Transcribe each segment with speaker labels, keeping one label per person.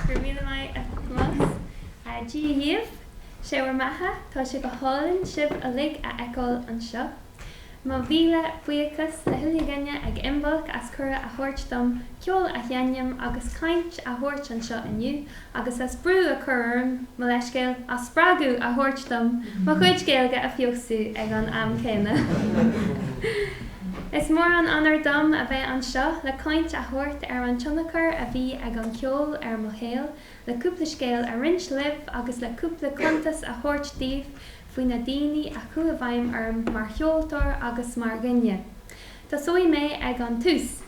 Speaker 1: Go raibh míle maith a Thomás. Dia dhaoibh. Sé bhur mbeatha. Tá sé go hálainn sibh uilig a fheiceáil anseo. Mo mhíle buíochas le chuile dhuine ag Imbolc as cuireadh a thabhairt dom ceol a sheinm agus caint a thabhairt anseo inniu, agus as brú a chur orm mo leithscéal as spreagadh a thabhairt dom mo chuid Gaeilge a feabhsú ag an am céanna. Is mór an onóir dom a bheith anseo le caint a thabhairt ar an tionchar a bhí ag an cheol ar mo shaol, le cúpla scéal a roinnt libh agus le cúpla cuntas a thabhairt daoibh faoi na daoine a chuaigh i bhfeidhm orm mar cheoltóir agus mar dhuine. Tosóidh mé ag an tús.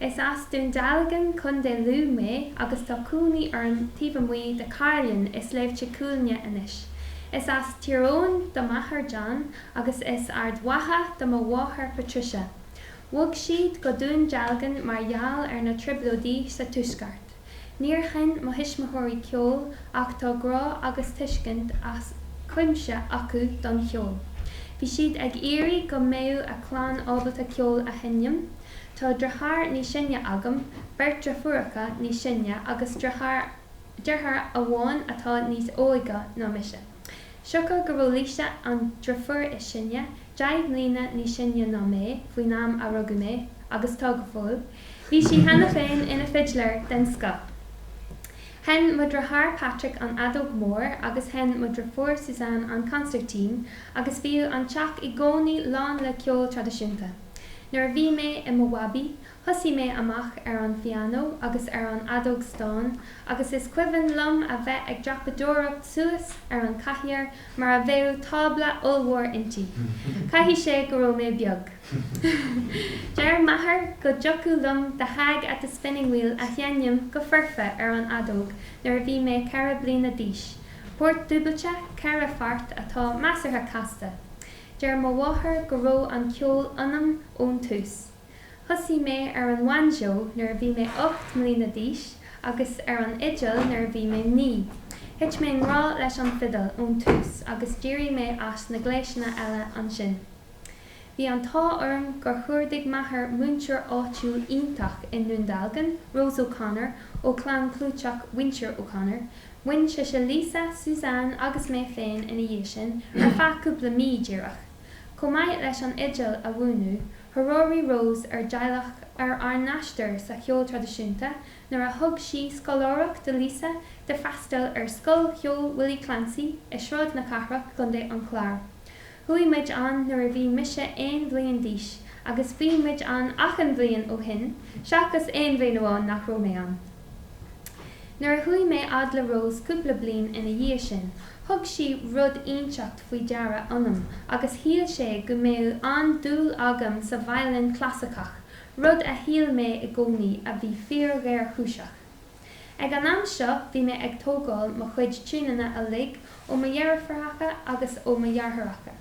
Speaker 1: Is as Dún Dealgan, Co. Lú mé agus tá cónaí orm taobh amuigh de Cairlinn i Sléibhte Cuailnge anois. Is as Tír Eoghain do m'athair John agus as Ard Mhacha do mo mháthair Patricia. Bhog siad go Dún Dealgan mar gheall ar na Trioblóidí sa Tuaisceart. Níor sheinn mo thuismitheoirí ceol ach tá grá agus tuiscint as cuimse acu don cheol. Bhí siad ag iarraidh go mbeadh a clann ábalta ceol a sheinm. Tá deartháir níos sine agam, beirt dreifiúracha níos sine agus deartháir amháin atá níos óige ná mise. Siocair go raibh Lisa, an dreifiúr is sine, deich mbliana níos sine ná mé faoin am a rugadh mé, agus tá go fóill, Bhí sí cheana féin ina fidléir den scoth. Sheinn mo dhriotháir Patrick an fheadóg mór agus sheinn mo dhriofúr Suzanne an consairtín agus bhíodh an teach i gcónaí lán le ceol traidisiúnta. Nuair a bhí mé i mo bhabaí, thosaigh mé amach ar an phianó agus ar an fheadóg stáin agus is cuimhin liom a bheith ag dreapadóireacht suas ar an cathaoir mar a bheadh tábla ollmhór inti. Caithfidh sé go raibh mé beag. Deir m'athair go dtiocfadh liom The Hag at the Spinning Wheel a sheinm go foirfe ar an fheadóg nuair a bhí mé ceithre bliana d'aois. Port dúbailte, ceithre pháirt, atá measartha casta. Deir mo mháthair go raibh an ceol ionam ón tús. Thosaigh mé ar an bhainseó nuair a bhí mé ocht mbliana d'aois agus ar an fhidil nuair a bhí mé naoi. Thit mé i ngrá leis an fidil ón tús agus d'éirigh mé as na gléiseanna eile ansin. Bhí an t-ádh orm gur chuardaigh m'athair múinteoir áitiúil iontach i nDún Dealgan, Rose O'Connor, ó chlann chlúiteach mhuintir O'Connor. Mhúin sise Lisa, Suzanne agus mé féin ina dhiaidh sin ar feadh cúpla mí díreach. Chomh maith leis an fhidil a mhúineadh, threoraigh Rose ár dteaghlach ar ár n-aistear sa cheol traidisiúnta nuair a thug sí scoláireacht do Lisa le freastal ar Scoil Cheoil Willie Clancy i Sráid na Cathrach, Contae an Chláir. Chuaigh muid ann nuair a bhí mise aon bhliain d'aois agus bhí muid ann achan bhliain ó shin seachas aon bhliain amháin nach raibh mé ann. Nuair a chuaigh mé fhad le Rose cúpla bliain ina dhiaidh sin, thug sí rud ínteacht faoi deara ionam agus shíl sé go mbeadh an-dúil agam sa veidhlín chlasaiceach, rud a shíl mé i gcónaí a bhí fíor-ghéarchúiseach. Ag an am seo bhí mé ag tógáil mo chuid tiúineanna uilig ó mo dheirfiúracha agus ó mo dheartháireacha.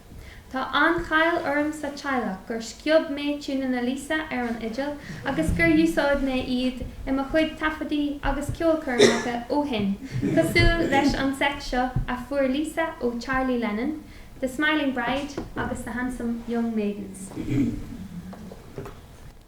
Speaker 1: Tá an cháil orm sa teaghlach gur sciob mé tiúineanna Lisa ar an fhidil agus gur úsáid mé iad i mo chuid taifeadaí agus ceolchoirmeacha ó shin cosúil leis an seit seo a fuair Lisa ó Charlie Lennon, The Smiling Bride agus The Handsome Young Maidens.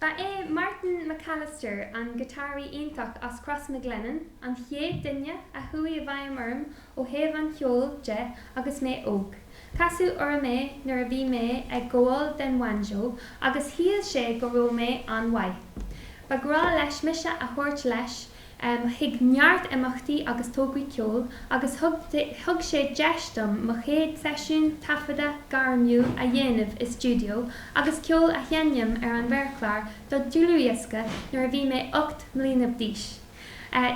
Speaker 1: Ba é Martin McAllister, an giotáraí iontach as Crois Mhic Lionnáin, an chéad duine a chuaigh i bhfeidhm orm ó thaobh an cheoil de agus mé óg. Casadh orm é nuair a bhí mé ag gabháil den bhanjo agus shíl sé go raibh mé an-mhaith. Ba ghnáth leis mise a thabhairt leis chuig neart imeachtaí agus tograí ceoil agus thug sé deis dom mo chéad seisiún taifeadta gairmiúil a dhéanamh i stiúideo agus ceol a sheinm ar an mhéarchlár do dlúthdhiosca nuair a bhí mé ocht mbliana d'aois.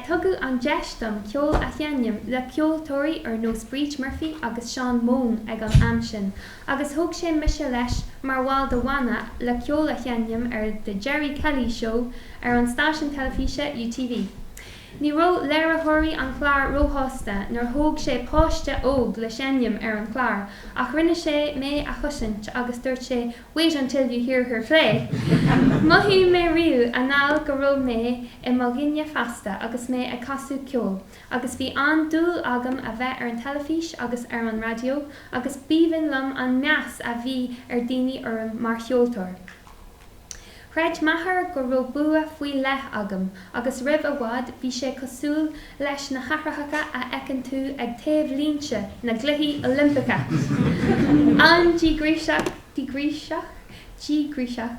Speaker 1: Tugadh an deis dom ceol a sheinm le ceoltóirí ar nós Briege Murphy agus Seán Mone ag an am sin Agus thóg sé mise leis mar bhall de bhanna le ceol a sheinm ar The Gerry Kelly Show ar an stáisiún teilifíse UTV. Ní raibh léiritheoirí an chláir róshásta nuair thóg sé páiste óg le seinm ar an chlár ach rinne sé mé a chosaint agus dúirt sé wait until you hear her play! Mhothaigh mé riamh anall go raibh mé i mo dhuine fásta agus mé ag casadh ceoil. agus bhí an-dúil agam a bheith ar an teilifís agus ar an raidió agus b'aoibhinn liom an meas a bhí ar daoine orm mar cheoltóir. Chreid m'athair go raibh bua faoi leith agam agus roimh i bhfad bhí sé cosúil leis na haithreacha a fheiceann tú ag taobhlínte na gCluichí Oilimpeacha, an-díograiseach, díograiseach, díograiseach,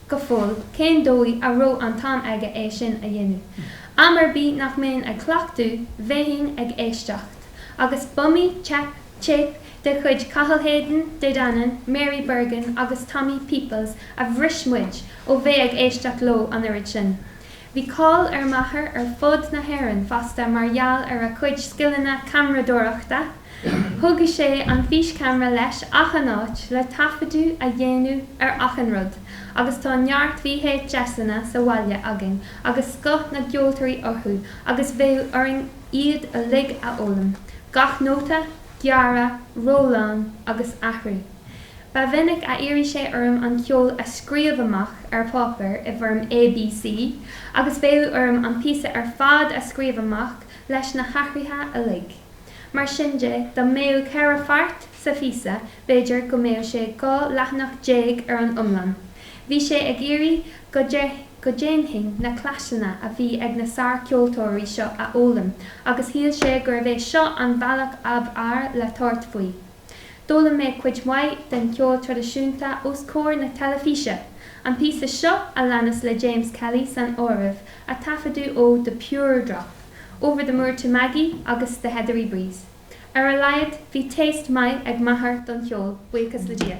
Speaker 1: go fóill cén dóigh a raibh an t-am aige é sin a dhéanamh. Am ar bith nach mbeinn ag cleachtadh bheinn ag éisteacht. Agus b'iomaí téip de chuid Cathal Hayden, De Dannan, Mary Bergin agus Tommy Peoples a bhris muid ó bheith ag éisteacht leo an oiread sin. Bhí cáil ar m'athair ar fud na hÉireann fosta mar gheall ar a chuid scileanna ceamaradóireachta, Thugadh sé an físceamra leis achan áit le taifeadadh a dhéanamh ar achan rud agus tá neart VHSanna sa bhaile againn agus scoth na gceoltóirí orthu agus bheadh orainn iad uilig a fhoghlaim, gach nóta, gearra, rollán agus athrú. Ba mhinic a iarradh sé orm an ceol a scríobh amach ar pháipéar i bhfoirm ABC agus bheadh orm an píosa ar fad a scríobh amach leis na hathruithe uilig. Mar sin de, dá mbeadh ceithre pháirt sa phíosa, b'fhéidir go mbeadh sé dhá leathanach déag ar an iomlán. Bhí sé ag iarraidh go ndéanfainn na cleasanna a bhí ag na sárcheoltóirí seo a fhoghlaim agus shíl sé gurbh é seo an bealach ab fhearr le tabhairt faoi. D'fhoghlaim mé cuid mhaith den cheol traidisiúnta os comhair na teilifíse, an píosa seo a leanas le James Kelly san áireamh, a taifeadadh ó The Pure Drop, Over the Moor to Maggie agus The Heathery Breeze. Ar a laghad bhí taste maith ag m'athair don cheol, buíochas le Dia.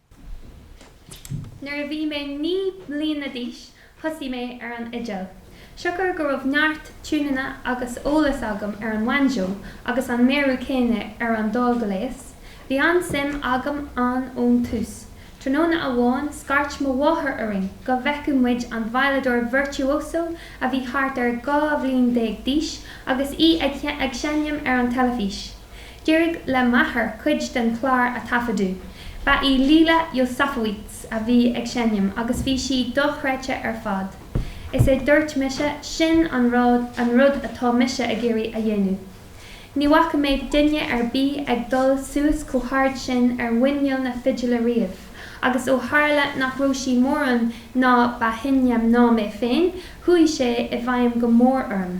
Speaker 1: Nuair a bhí mé naoi mbliana d'aois thosaigh mé ar an fhidil. Siocair go raibh neart tiúnanna agus eolas agam ar an bhanjo agus an méarú céanna ar an dá ghléas, bhí an-suim agam ann ón tús. Tráthnóna amháin scairt mo mháthair orainn go bhfeicfeadh muid an veidhleadóir virtuoso a bhí thart ar dhá bhliain déag d'aois agus í ag seinm ar an teilifís. D'éirigh le m'athair cuid den chlár a thaifeadadh. Ba í Leila Josefowicz a bhí ag seinm agus bhí sí dochreidte ar fad. Is é dúirt mise, sin an rud, an rud atá mise ag iarraidh a dhéanamh. Ní bhfaca mé duine ar bith ag dul suas chomh hard sin ar mhuineal na fidile riamh agus ó tharla nach raibh sí mórán ní ba shine ná mé féin, chuaigh sé i bhfeidhm go mór orm.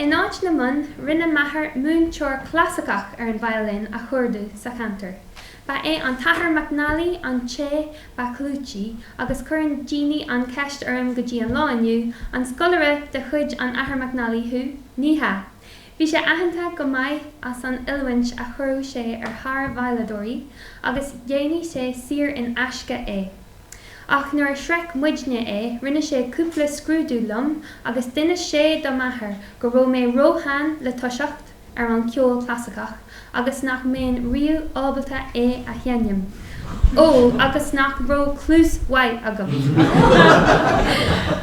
Speaker 1: In áit na mbonn, rinne m'athair múinteoir clasaiceach ar an violin a chuardú sa cheantar. Ba é an tAthair McNally an té ba chlúití agus cuireann daoine an cheist orm go dtí an lá inniu, an scoláire de chuid an Athar McNally thú? Ní hea. Bhí sé aitheanta go maith as an oiliúint a chuireadh sé ar shárveidhleadóirí agus dhéanadh sé saor in aisce é. Ach nuair a shroich muidne é rinne sé cúpla scrúdú liom agus d'inis sé do m'athair go raibh mé róshean le toiseacht. ar an ceol clasaiceach agus nach mbeinn riamh ábalta é a sheinm, ó, agus nach raibh cluas mhaith agam.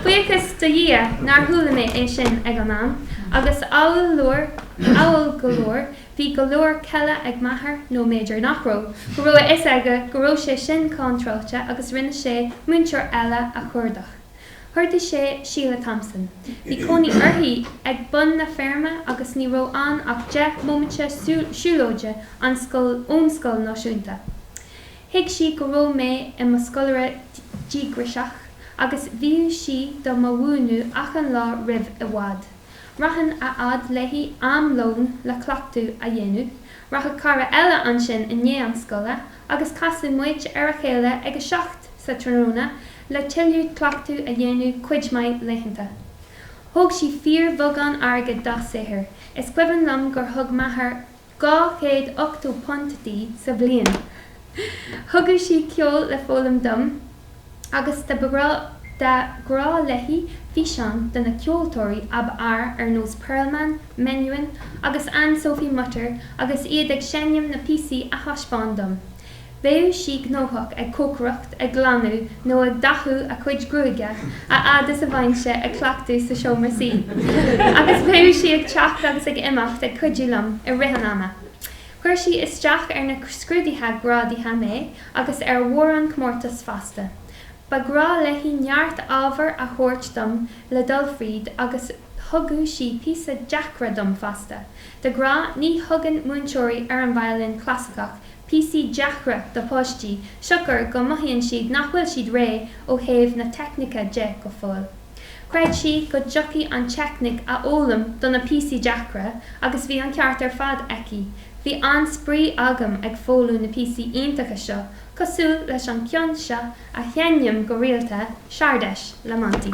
Speaker 1: Buíochas do Dhia nár chuala mé é sin ag an am, agus ádhúil go leor, bhí go leor céille ag m'athair, nó mb'fhéidir nach raibh, go raibh a fhios aige go raibh sé sin contráilte agus rinne sé múinteoir eile a chuardach. Chuardaigh sé Sheila Thompson. Bhí cónaí uirthi ag bun na feirme agus ní raibh ann ach deich mbomaite siúlóide an scoil ón scoil náisiúnta. Thuig sí go raibh mé i mo scoláire díograiseach agus bhíodh sí do mo mhúineadh achan lá roimh i bhfad. Rachainn a fhad léi am lón le cleachtadh a dhéanamh. Rachadh cara eile ansin i ndiaidh an scoile agus casadh muid ar a chéile ag a seacht sa tráthnóna le tuilleadh cleachtadh a dhéanamh cuid maith laethanta. Thóg sí fíorbheagán airgid dá saothar, is cuimhin liom gur thug m'athair dhá chéad ochtó punt di sa bhliain. Thugadh sí ceol le foghlaim dom. agus ba ghnách léi físeáin de na ceoltóirí ab fhearr ar nós Perlman, Menuhin agus Anne Sophie Mutter agus iad ag seinm na píosaí a thaispeáin dom. Bheadh sí gnóthach ag cócaireacht, ag glanadh nó ag dathú a cuid gruaige a fhad is a bheinnse ag cleachtadh sa seomra suí agus bheadh sí ag teacht agus ag imeacht ag cuidiú liom i rith an ama. Chuir sí isteach ar na scrúduithe grádaithe mé agus ar mhórán comórtas fosta. Ba ghnách léi neart ábhar a thabhairt dom le dul fríd agus thugadh sí píosaí deacra dom fosta. De ghnáth ní thugann múinteoirí ar an veidhlín clasaiceach píosaí deacra do pháistí siocair go mothaíonn siad nach bhfuil siad réidh ó thaobh na teicníce de go fóill. Chreid sí go dtiocfaí an teicníc a fhoghlaim do na píosaí deacra agus bhí an ceart ar fad aici. Bhí an-spraoi agam ag foghlaim na píosaí iontacha seo cosúil leis an cionn seo a sheinnim go rialta, Czardas le Monti.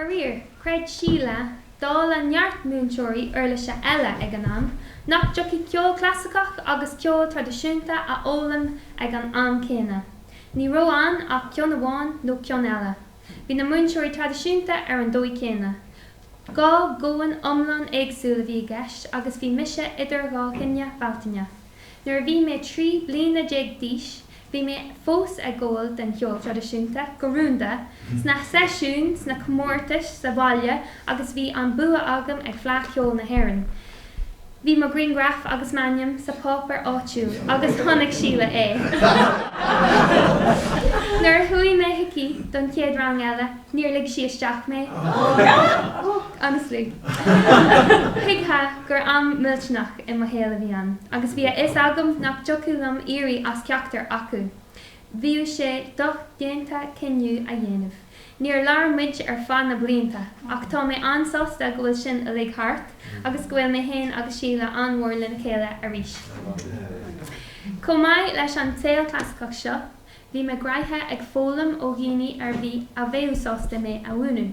Speaker 1: Faraor, chreid Sheila, dála neart múinteoirí uirlise eile ag an am, nach dtiocfaí ceol clasaiceach agus ceol traidisiúnta a fhoghlaim ag an am céanna. Ní raibh ann ach ceann amháin nó ceann eile. Bhí na múinteoirí traidisiúnta ar an dóigh céanna. Dhá dhomhan iomlán éagsúil a bhí i gceist agus bhí mise idir dhá thine Bhealtaine. Nuair a bhí mé trí bliana déag d'aois bhí mé fós ag gabháil den cheol traidisiúnta go rúnda, sna seisiúin, sna comórtais, sa bhaile agus bhí an bua agam ag Fleadh Cheoil na hÉireann. Bhí mo ghriangraf agus m'ainm sa páipéar áitiúil agus chonaic Síle é. Nuair a chuaigh mé chuici don chéad rang eile níor lig sí isteach mé. Honestly. Thuigfeá gur am millteanach i mo shaol a bhí ann agus bhí a fhios agam nach dtiocfadh liom éirí as ceachtar acu. Bheadh sé dodhéanta cinneadh a dhéanamh. Níor labhair muid ar feadh na blianta ach tá mé an-sásta go bhfuil sin uilig thart agus go bhfuil mé fhéin agus Síle an-mhór lena chéile arís. Chomh maith leis an cheol clasaiceach seo, bhí mé gnoitheach ag foghlaim ó dhuine ar bith a bheadh sásta mé a mhúineadh.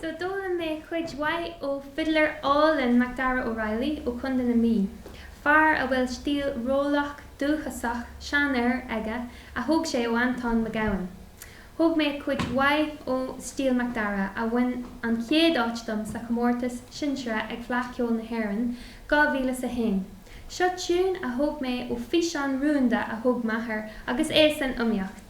Speaker 1: So d'fhoghlaim mé cuid mhaith ó fidléir álainn Macdara Ó Raghallaigh ó Chontae na Mí, fear a bhfuil stíl rollach dúchasach seanfhir aige a thóg sé ó Antóin Mac Gabhann. Thóg mé cuid mhaith ó stíl Macdara a bhain an chéad áit dom sa chomórtas sinsearach ag Fleadh Cheoil na hÉireann 2001. Seo tiún a thóg mé ó físeán rúnda a thóg m'athair agus é san iomaíocht.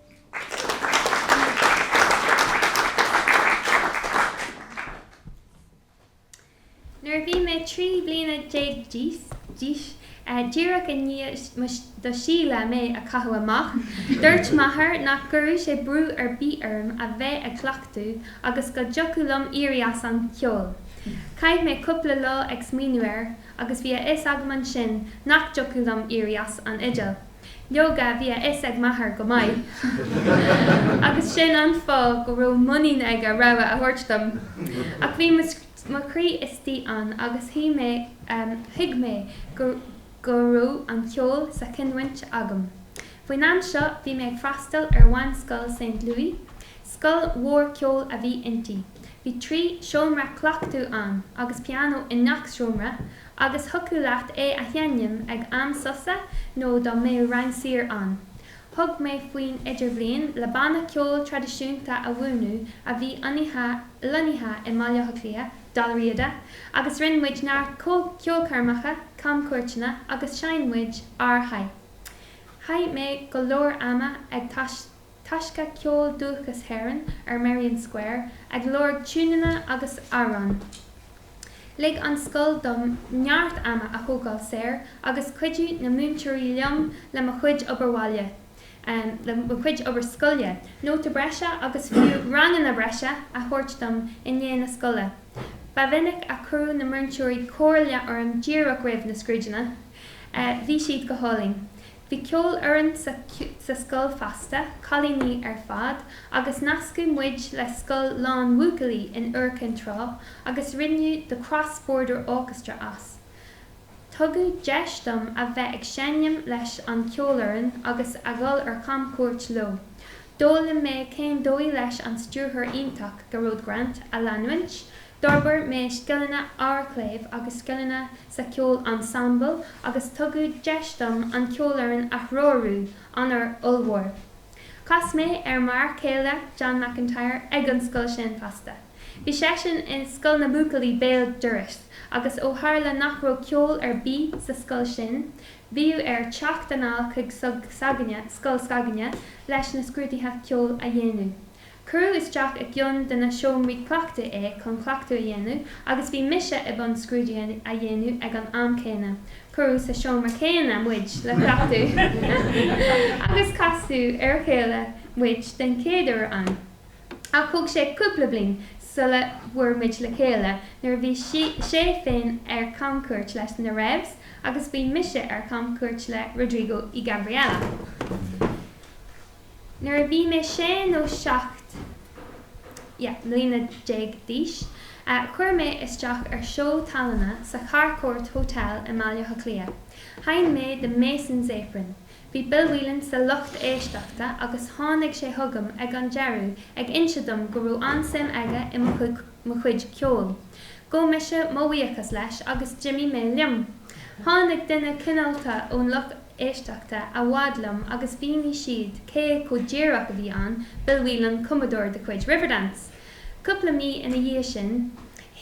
Speaker 1: Nuair a bhí mé trí bliana déag d'aois, díreach i ndiaidh do Síle mé a chaitheamh amach, dúirt m'athair nach gcuirfeadh sé brú ar bith orm a bheith ag cleachtadh agus go dtiocfadh liom éirí as an cheol. Chaith mé cúpla lá ag smaoineamh air agus bhí a fhios agam ansin nach dtiocfadh liom éirí as an fhidil. Leoga, bhí a fhios ag m'athair go maith, agus sin an fáth go raibh muinín aige rogha a thabhairt dom. Ach bhí mo chroí istigh ann, agus thuig mé, em, thuig mé go, go raibh an ceol sa chinniúint agam. Faoin am seo, bhí mé ag freastal ar mheánscoil Saint Louis. Scoil mhór ceoil a bhí inti. Bhí trí seomra cleachtaidh ann, agus pianó i ngach seomra, Agus thiocfadh leat é a sheinm ag am sosa nó dá mbeadh rang saor ann. Thug mé faoin Idirbhliain le banna ceoil traidisiúnta a bhunú a bhí ionnaithe, lonnaithe i mBaile Átha Cliath, Dal Riada, agus rinne muid neart ceolchoirmeacha, camchuairteanna agus sheinn muid ar Chaith mé go leor ama ag taisteal. Taisce Ceol Dúchais hÉireann ar Merrion Square ag lorg tiúineanna agus amhráin. Lig an scoil dom neart ama a thógáil saor agus chuidigh na múinteoirí liom le mo chuid obair bhaile, le mo chuid obair scoile, nótaí breise agus fiú ranganna breise a thabhairt dom i ndiaidh na scoile. Ba mhinic a chuireadh na múinteoirí comhairle orm díreach roimh na scrúduithe. Bhí siad go hálainn. Bhí ceolfhoireann sa scoil fosta, cailíní ar fad, agus nascadh muid le scoil lánbhuachaillí in Iúr Cinn Trá agus rinneadh The Cross Border Orchestra as. Tugadh deis dom a bheith ag seinm leis an cheolfhoireann agus a dhul ar chamchuairt leo. D'fhoghlaim mé cén dóigh leis an stiúrthóir iontach, Gearóid Grant, a leanúint. D'fhorbair mé scileanna amharcléimh agus scileanna sa cheol ensemble agus tugadh deis dom an ceolfhoireann a threorú, onóir ollmhór. Chas mé ar m'fhear céile, John McIntyre, ag an scoil sin fosta. Bhí seisean i Scoil na mBuachaillí béal dorais agus ó tharla nach raibh ceol ar bith sa scoil sin, bhíodh air teacht anall chuig scoil s'againne, leis na scrúduithe ceoil a dhéanamh. Cuireadh isteach i gceann de na seomraí cleachtaidh é chun cleachtadh a dhéanamh agus bhí mise i mbun scrúduithe a dhéanamh ag an am céanna. Cuireadh sa seomra céanna muid le cleachtadh agus casadh ar a chéile muid den chéad uair ann. Ach thóg sé cúpla bliain sula bhfuair muid le chéile nuair a bhí sé féin ar chamchuairt leis na Revs agus bhí mise ar chamchuairt le Rodrigo y Gabriela. Nuair a bhí mé sé nó seacht, yeah, mbliana déag d'aois, chuir mé isteach ar seó tallainne sa Harcourt Hotel i mBaile Átha Cliath. Sheinn mé The Mason's Apron. Bhí Bill Whelan sa lucht éisteachta agus tháinig sé chugam ag an deireadh ag inse dom go raibh an-suim aige i mo chuid mo chuid ceoil. Ghabh mise mo bhuíochas leis agus d'imigh mé liom. Tháinig duine cineálta ón lucht éisteachta a fhad liom agus mhínigh siad cé go díreach a bhí ann, Bill Whelan, cumadóir de chuid Riverdance. Cúpla mí ina dhiaidh sin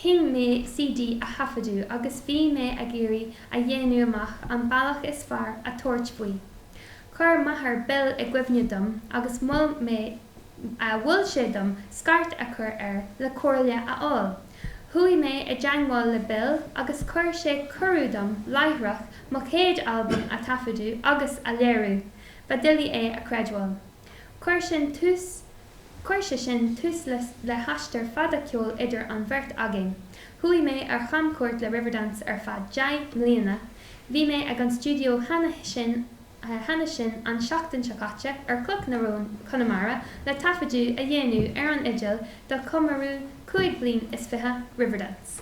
Speaker 1: chinn mé CD a thaifeadadh agus bhí mé ag iarraidh a dhéanamh amach an bealach is fearr a thabhairt faoi. Chuir m'athair Bill i gcuimhne dom agus mhol mé mhol sé dom scairt a chur air le comhairle a fháil. Chuaigh mé i dteangmháil le Bill agus chuir sé cuireadh dom láithreach mo chéad albam a thaifeadadh agus a léiriú. Ba doiligh é a chreidbheáil. Chuir sé sin tús le haistear fada ceoil idir an bheirt againn. Chuaigh mé ar chamchuairt le Riverdance ar feadh deich mbliana. Bhí mé ag an stiúideo cheana sin. cheana sin an tseachtain seo caite ar Chloch na Rón, Conamara, le taifeadadh a dhéanamh ar an fhidil do chomóradh cúig bhliain is fiche Riverdance.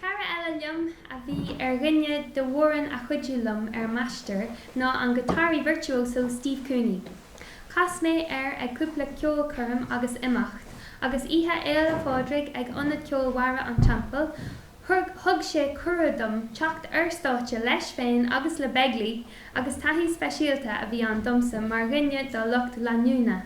Speaker 1: Cara eile liom a bhí ar dhuine de mhórán a chuidigh liom ar m'aistear ná an guitáraí virtuoso Steve Cooney. Chas mé air ag cúpla ceolchoirm agus imeacht, agus Oíche Fhéile Phádraig ag Ionad Ceoil Bharra an Teampaill thug sé cuireadh dom teacht ar stáiste leis féin agus le Begley agus taithí speisialta a bhí ann domsa mar dhuine dá lucht leanúna.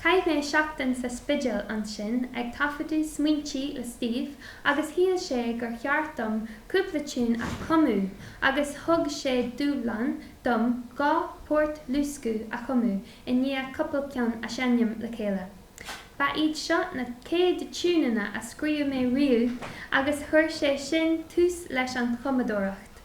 Speaker 1: Chaith mé seachtain sa Spidéal ansin ag taifeadadh Smaointe le Steve agus shíl sé gur cheart dom cúpla tiún a chumadh agus thug sé dúshlán dom dhá port luasctha a chumadh i ndiaidh cupla ceann a sheinm le chéile. Ba iad seo na chéad tiúineanna a scríobh mé riamh agus chuir sé sin tús leis an chumadóireacht.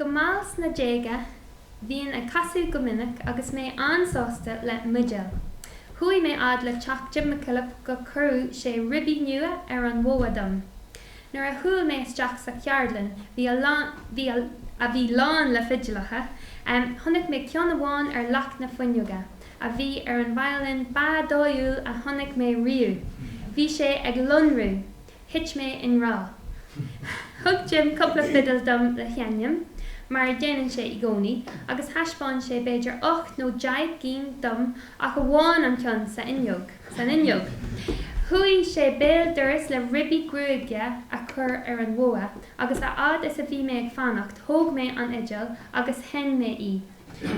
Speaker 1: Go mall sna déaga, bhínn ag casadh go minic agus mé an-sásta le m'fhidil. Chuaigh mé fhad le teach Jim McKillop go gcuirfeadh sé ribí nua ar an bhogha dom. Nuair a chuaigh mé isteach sa cheardlann, bhí, a bhí lán le fidileacha, chonaic mé ceann amháin ar leac na fuinneoige, a bhí ar an violin ba dóighiúla a chonaic mé riamh. Bhí sé ag lonrú. Thit mé i ngrá. Thug Jim cupla fidil dom le seinm, mar a dhéanann sé i gcónaí, agus thaispeáin sé b'fhéidir ocht nó deich gcinn dom ach amháin an ceann sa fhuinneog, san fhuinneog. Chuaigh sé béal dorais le ribí gruaige a chur ar an bhogha agus a fhad is a bhí mé ag fanacht thóg mé an fhidil agus sheinn mé í.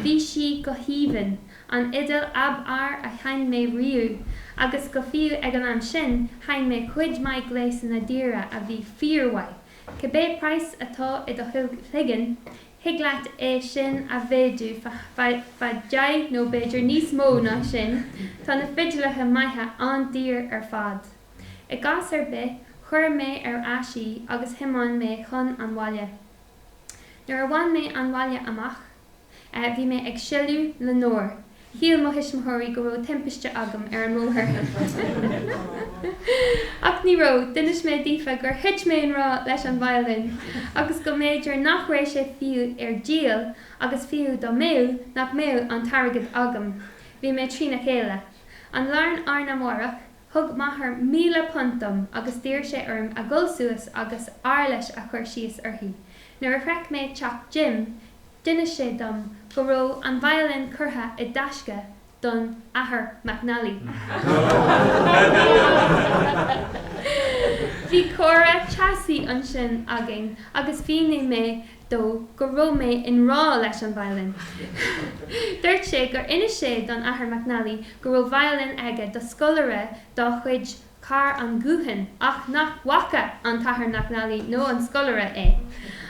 Speaker 1: Bhí sí go haoibhinn. an fhidil ab fhearr a sheinn mé riamh, agus go fiú ag an am sin sheinn mé cuid maith gléasanna daora a bhí fíormhaith. Cibé price atá i do chloigeann, thig leat é sin a mhéadú fá deich nó b'fhéidir níos mó ná sin, tá na fidileacha maithe an-daor ar fad. I gcás ar bith, chuir mé ar ais í agus thiomáin mé chun an bhaile. Nuair a bhain mé an baile amach, Bhí mé ag sileadh na ndeor. Shíl mo thuismitheoirí go raibh timpiste agam ar an mbóthar. Ach ní raibh. D'inis mé daofa gur thit mé i ngrá leis an violin agus go mb'fhéidir nach raibh sé fiú ar díol agus fiú dá mbeadh, nach mbeadh an t-airgead agam. Bhí mé trína chéile. An lá arna, arna mhárach Thug m'athair míle punt dom agus d'iarr sé orm a dhul suas agus éarlais a chur síos uirthi. Nuair a shroich mé teach Jim, d'inis sé dom go raibh an violin curtha i dtaisce don Athair McNally. Bhí comhrá teasaí ansin againn agus mhínigh mé dó go raibh mé i ngrá leis an violin. Dúirt sé gur inis sé don Athair McNally go raibh violin aige do scoláire dá chuid thar an ghuthán ach nach bhfaca an tAthair McNally nó an scoláire é.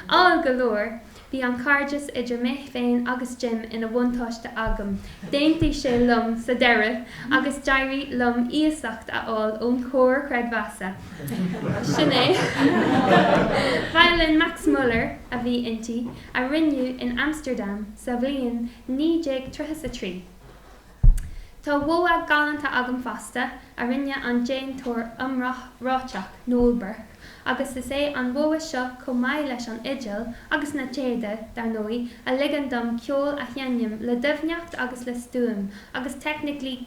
Speaker 1: Ádhúil go leor bhí an cairdeas idir mé féin agus Jim ina bhuntáiste agam. D'aontaigh sé liom sa deireadh agus d'éirigh liom iasacht a fháil ón Chomhar Creidmheasa. Sin é. Violin Max Muller a bhí inti, a rinneadh in Amsterdam sa bhliain 1933. Tá bogha galánta agam fosta a rinne an déantóir iomráiteach Noel Burke agus is é an bogha seo chomh maith leis an fhidil agus na téada, dar ndóigh, a ligeann dom ceol a sheinm le doimhneacht agus le stuaim agus teicnic.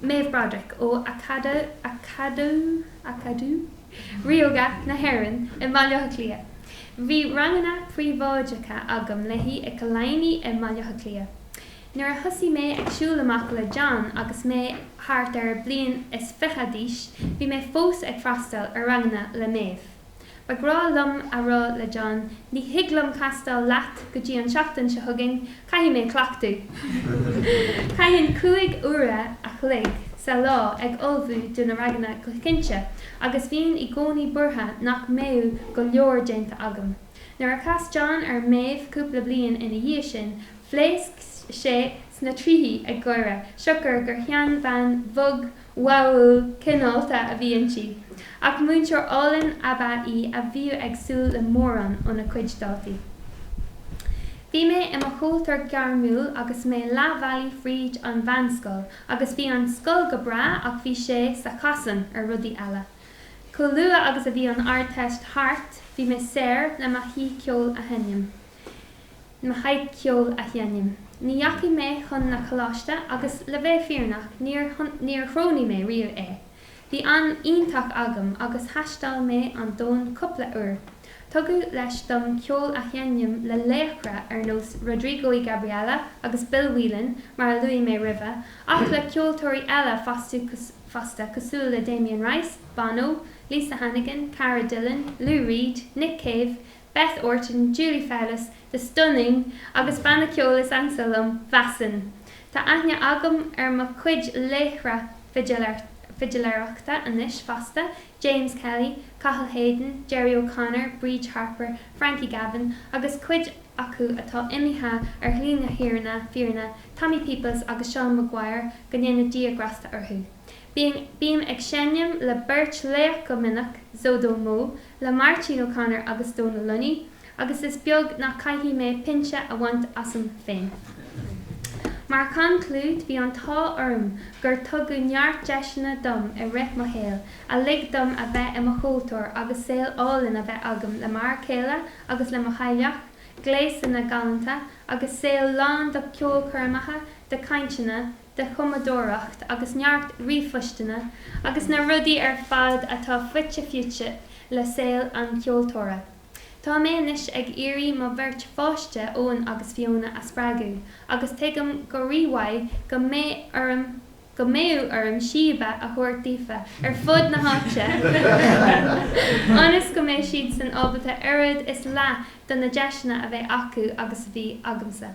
Speaker 1: Maeve Broderick ó Acadamh Ríoga na hÉireann i mBaile Átha Cliath. Bhí ranganna príobháideacha agam léi ag Killiney i mBaile Átha Cliath. Nuair a thosaigh mé ag siúl amach le John agus mé thart ar bliain is fiche d'aois, bhí mé fós ag freastal ar ranganna le Maeve. Ba ghnách liom a rá le John, ní thig liom castáil leat go dtí an tseachtain seo chugainn, caithfidh mé cleachtadh. Chaithinn cúig uaire a chloig sa lá ag ullmhú do na ranganna go cinnte agus bhínn i gcónaí buartha nach mbeadh go leor déanta agam. Nuair a chas John ar Maeve cúpla bliain ina dhiaidh sin, phléasc sé sna tríthí ag gáire siocair gur sheanbhean bhog, bháúil, cineálta a bhí inti. Ach múinteoir álainn ab ea í a bhíodh ag súil le mórán óna cuid daltaí. Bhí mé i mo cheoltóir gairmiúil agus mé leathbhealaigh fríd an mheánscoil agus bhí an scoil go breá ach bhí sé sa chasán ar rudaí eile. Chomh luath agus a bhí an Ardteist thart bhí mé saor le mo sháith ceoil a sheinm. Mo sháith ceoil a sheinm. Ní dheachaigh mé chun na coláiste agus, le bheith fírinneach, níor, níor chronaigh mé riamh é. Bhí am iontach agam agus thaisteal mé an domhan cúpla uair. Tugadh deis dom ceol a sheinm le laochra ar nós Rodrigo y Gabriela agus Bill Whelan, mar a luaigh mé roimhe, ach le ceoltóirí eile fosta, fosta, cosúil le Damien Rice, Bono, Lisa Hannigan, Cara Dillon, Lou Reed, Nick Cave, Beth Orton, Julie Fowlis, The Stunning agus banna ceoil is ansa liom, Väsen. Tá aithne agam ar mo chuid laochra fidiléireachta anois fosta, James Kelly, Cathal Hayden, Gerry O'Connor, Bríd Harper, Frankie Gavin agus cuid acu atá imithe ar shlí na fírinne, Tommy Peoples agus Seán Maguire, go ndéana Dia grásta orthu. Bím ag seinm le beirt laoch go minic, ZoDoMo le Máirtín O'Connor agus Dónal Lunny agus is beag nach caithfidh mé pinse a bhaint asam féin. Mar chonclúid, bhí an t-ádh orm gur tugadh neart deiseanna dom i rith mo shaoil a lig dom a bheith i mo cheoltóir agus saol álainn a bheith agam le m'fhear céile agus le mo theaghlach, gléasanna galánta agus saol lán de cheolchoirmeacha, de chainteanna, de chumadóireacht agus neart ríomhphoisteanna agus na rudaí ar fad atá fite fuaite le saol an cheoltóra. Tá mé anois ag iarraidh mo bheirt pháiste, Eoin agus Fiona, a spreagadh agus tuigim go rí-mhaith go mbeidh, go mbeidh orm síoba a thabhairt daofa ar fud na háite ionas go mbeidh siadsan ábalta oiread is leath do na deiseanna a bheith acu agus a bhí agamsa.